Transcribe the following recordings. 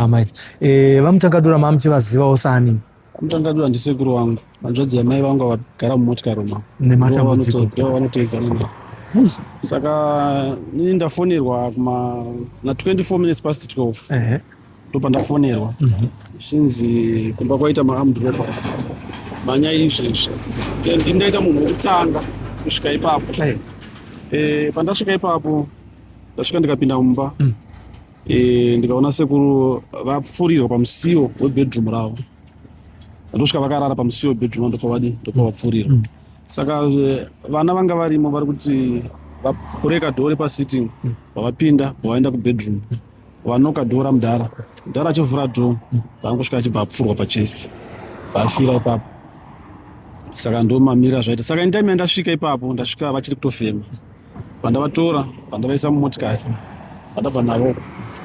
Amai. Eh, vamutangadura mamuchivazivawo sani. Vamutangadura ndisekuru wangu. Vanzvadzi yamai vangu vagara mumotikari umo. Nematambudziko. Ndiwo vanoteedzana navo. Saka ini ndafonerwa kuma na 24 minutes past 12. Ehe. Eh. Ndopandafonerwa. Mhm. Mm Shinzi kumba kwaita ma armed robots. Manya izvezvi. Then ndaita munhu wekutanga kusvika ipapo. Eh. Eh, pandasvika ipapo ndasvika ndikapinda mumba. Mm. e, ndikaona sekuru vapfurirwa pamusiwo webedroom ravo ndosvika vakarara pamusiwo webedroom ndopavadi ndopavapfurirwa mm. saka eh, vana vanga varimo vari kuti vabreka dhori pasitting mm. pavapinda pavaenda kubedroom mm. vanoka dhora mudhara mudhara achivhura dho vaangosvika achibva apfurwa pachest vaafira ipapo saka ndomamira zvaita saka intime yandasvika ipapo ndasvika vachiri kutofema pandavatora pandavaisa mumotikari pandabva navo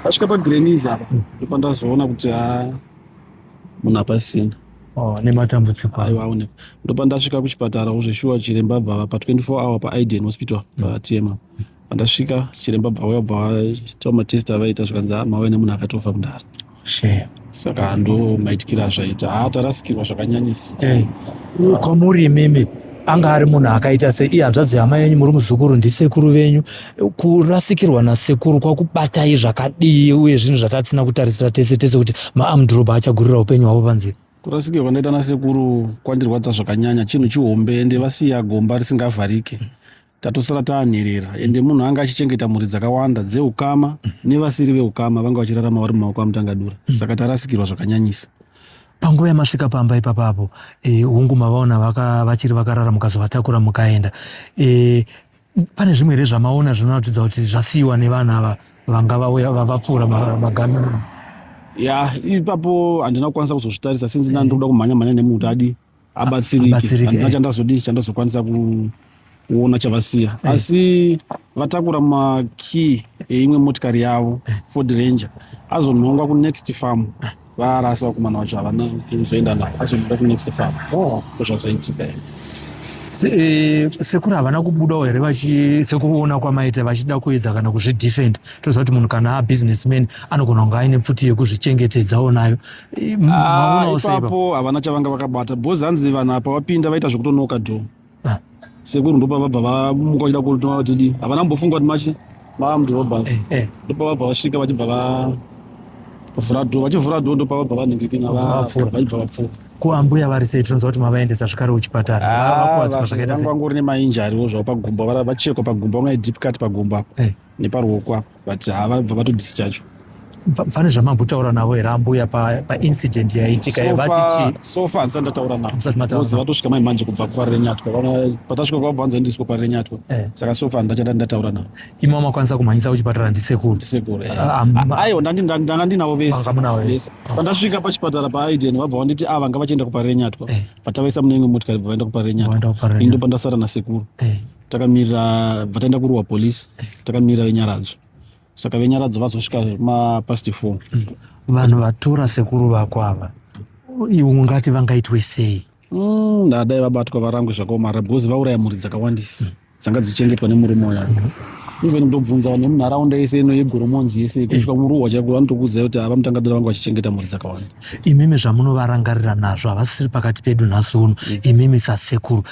vasvika pagreniz apa ndipo ndazoona kuti ha munhu apasina oh, nematambudziko aiwa aoneka ndopandasvika kuchipatara uzveshuwa chiremba bvava pa 24 hour paiden hospital patm mm. pandasvika chiremba bvauya bva vaita matest avaita zvikanzi ah, mauya nemunhu akatofa kudhara Shame. saka ndo maitikira azvaita haa tarasikirwa zvakanyanyisa Eh, uyu kwamuri imimi anga ari munhu akaita sei iye hanzvadzi yama yenyu muri muzukuru ndisekuru venyu kurasikirwa nasekuru kwakubatai zvakadii uye zvinhu zvatatisina kutarisira tese tese kuti maamdroba achagurira upenyu hwavo panzira kurasikirwa kwandaiita nasekuru kwandirwadza zvakanyanya chinhu chihombe ende vasiya gomba risingavharike tatosara taanherera ende munhu anga achichengeta mhuri dzakawanda dzeukama nevasiri veukama vanga vachirarama vari mumaoko amutangadura mm. saka tarasikirwa zvakanyanyisa panguva yamasvika pamba ipapa apo e, hungu mavaona vaka, vachiri vakarara mukazovatakura mukaenda e, pane zvimwe here zvamaona zvinoratidza kuti zvasiyiwa nevana ava vanga vauya vapfuura magamino ma, ya ipapo handina kukwanisa kuzozvitarisa sinzi ndandikuda kumhanya mhanya nemunhu kuti adii abatsirike handina chandazodii chandazokwanisa kuona chavasiya eh. asi vatakura makey eimwe motikari yavo eh. ford ranger azonhongwa kunext farm eh. varasa vakomana vacho havana kuzoenda navo azonhongwa kunext farm oh. ndozvazoitika oh. Eh, sekuru havana kubudawo here sekuona kwamaita vachida kuedza kana kuzvidefend toziva kuti munhu kana abusinessman anogona kunge aine pfuti yekuzvichengetedzawo nayo Ah, ipapo havana chavanga vakabata bhozi hanzi vanhu apa vapinda vaita zvekutonoka dho ah. sekuru ndopa vabva vamuka vachida kutoma vatidi havana kumbofunga kuti machi vamdorobas eh, eh. ndopa vabva vasvika vachibva vavhura dho vachivhura dho ndopa vabva vanhingikina vachibva vapfuura kuambuya vari sei tinonzwa kuti mavaendesa zvikare kuchipatara ah, vangori nemainjariwo zvavo pagumbo vachekwa pagumbo vangai deep cut pagumbo apo eh. neparuoko apo but havabva vato discharge pane zvamambotaura navo here ambuya paincident pa yaitika so far handisati ndataura navozi vatosvika mai manje kubva kwarenyatwa patasvika kwavo vanzi vaendiswa kwarenyatwa eh. saka so far ndachata ndataura navo imi wamakwanisa kumhanyisa kuchipatara ndisekuru ndisekuru eh. ah, ah, ah, aiwa ndanga ndinavo vese pandasvika pachipatara paaiden vabva vanditi a vanga vachienda kuparenyatwa eh. vatawaisa mune imwe motikari bva vaenda kuparenyatwa indo pandasara nasekuru takamirira bva taenda kuruwa police takamirira venyaradzo saka venyaradzo vazosvika mapast four mm. vanhu vatora sekuru vako ava iwe ungati vangaitwe sei mm, ndadai vabatwa varangwe zvakaomara because vauraya mhuri dzakawandisa mm. dzanga dzichengetwa nemurume uya mm-hmm. even kutobvunza vanhu vemunharaunda yese ino yegoromonzi yese eh. kusvika muruwa chaiko vanotokuudzai kuti ava mutangadira vanga vachichengeta mhuri dzakawanda imimi zvamunovarangarira nazvo havasiri pakati pedu nhasi uno imimi sasekuru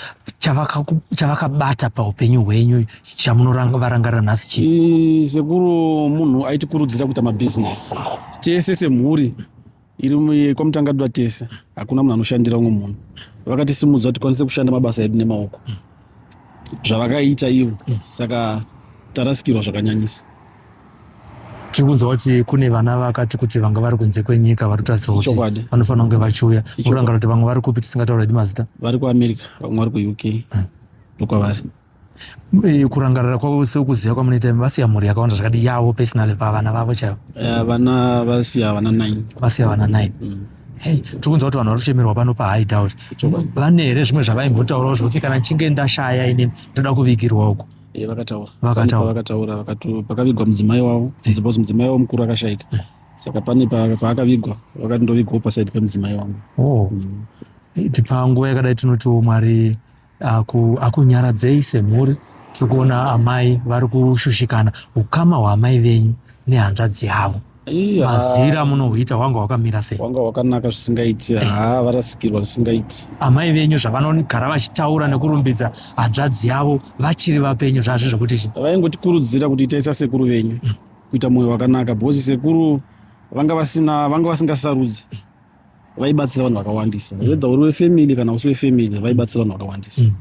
chavakabata paupenyu hwenyu chamunovarangarira nhasi chii sekuru munhu aitikurudzira kuita mabhizinesi tese semhuri iri kwamutangadwa tese hakuna munhu anoshandira umwe munhu vakatisimudza kuti tikwanise kushanda mabasa edu nemaoko zvavakaita ivo saka tarasikirwa zvakanyanyisa tiri kunzwa kuti kune vana vakati kuti vanga vari kunze kwenyika vari kutarisirwa kuti vanofanira kunge vachiuya urangara kuti vamwe vari kupi tisingataura hedu mazita vari kuamerica vamwe vari kuuk hmm. ndokwavari eh, kurangarira kwavo sekuziva kwamunoita vasiya mhuri yakawanda zvakadi yavo personally pavana vavo chaivo eh, vana vasiya vana nine vasiya vana nine hmm. hey tiri kunzwa kuti vanhu vari kuchemerwa pano pahide out vane here zvimwe zvavaimbotaurawo zvekuti kana ndichinge ndashaya ini ndoda kuvigirwa uko e, vakataura vakataura vakataura vakati pakavigwa mudzimai wavo eh. because mudzimai wavo mukuru akashaika eh. saka pane paakavigwa vakati ndovigwawo pasaidi pemudzimai wangu oh. mm. tipanguva yakadai tinotiwo mwari akunyaradzei semhuri tiri kuona amai vari kushushikana ukama hwaamai venyu nehanzvadzi yavo mazira munohuita hwanga hwakamira sei hwanga hwakanaka zvisingaiti eh. haa varasikirwa zvisingaiti amai venyu zvavanogara vachitaura nekurumbidza hanzvadzi yavo vachiri vapenyu zvazvi zvekuti chi vaingotikurudzira kuti itaisa sekuru venyu mm. kuita mwoyo wakanaka bhozi sekuru vanga vasina vanga vasingasarudzi vaibatsira vanhu vakawandisa mm. whether uri wefamily kana usi wefamily vaibatsira vanhu vakawandisa mm.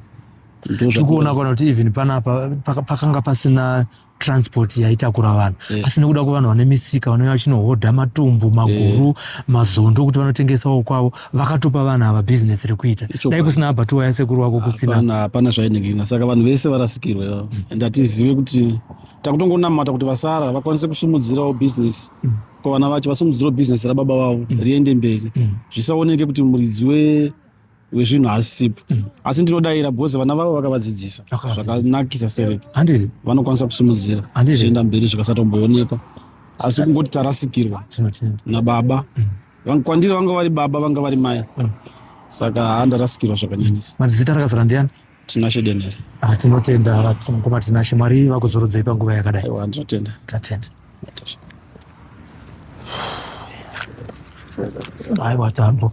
tiri kuona kana kuti even panapa pakanga pasina transport yaitakura vanhu yeah. asi nekuda kwevanhu vane misika vanouya vachinohodha matumbu maguru yeah. mazondo kuti vanotengesawo kwavo vakatopa vanhu ava bhizinesi rekuita dai kusina abhatuwa yasekuru wako kusina hapana zvainengina saka vanhu vese varasikirwa ivavo mm. and hatizive kuti takutongonamata kuti vasara vakwanise kusimudzirawo bhizinesi mm. kwavana vacho vasimudzirawo bhizinesi rababa vavo mm. riende mberi mm. zvisaoneke kuti muridzi we wezvinhu haasisipo mm. asi ndinodayira because vana vavo vakavadzidzisa zvakanakisa seve handiri vanokwanisa kusimudzira zvienda mberi zvikasatomboonekwa asi kungoti tarasikirwa nababa mm. kwandiri vanga vari baba vanga vari mai mm. saka handarasikirwa zvakanyanyisa mazita rakazara ndiani tinashe denere ah, tinotenda mukoma tinashe mwari vakuzorodzei panguva yakadai aiwa ndinotenda tatenda aiwa tambo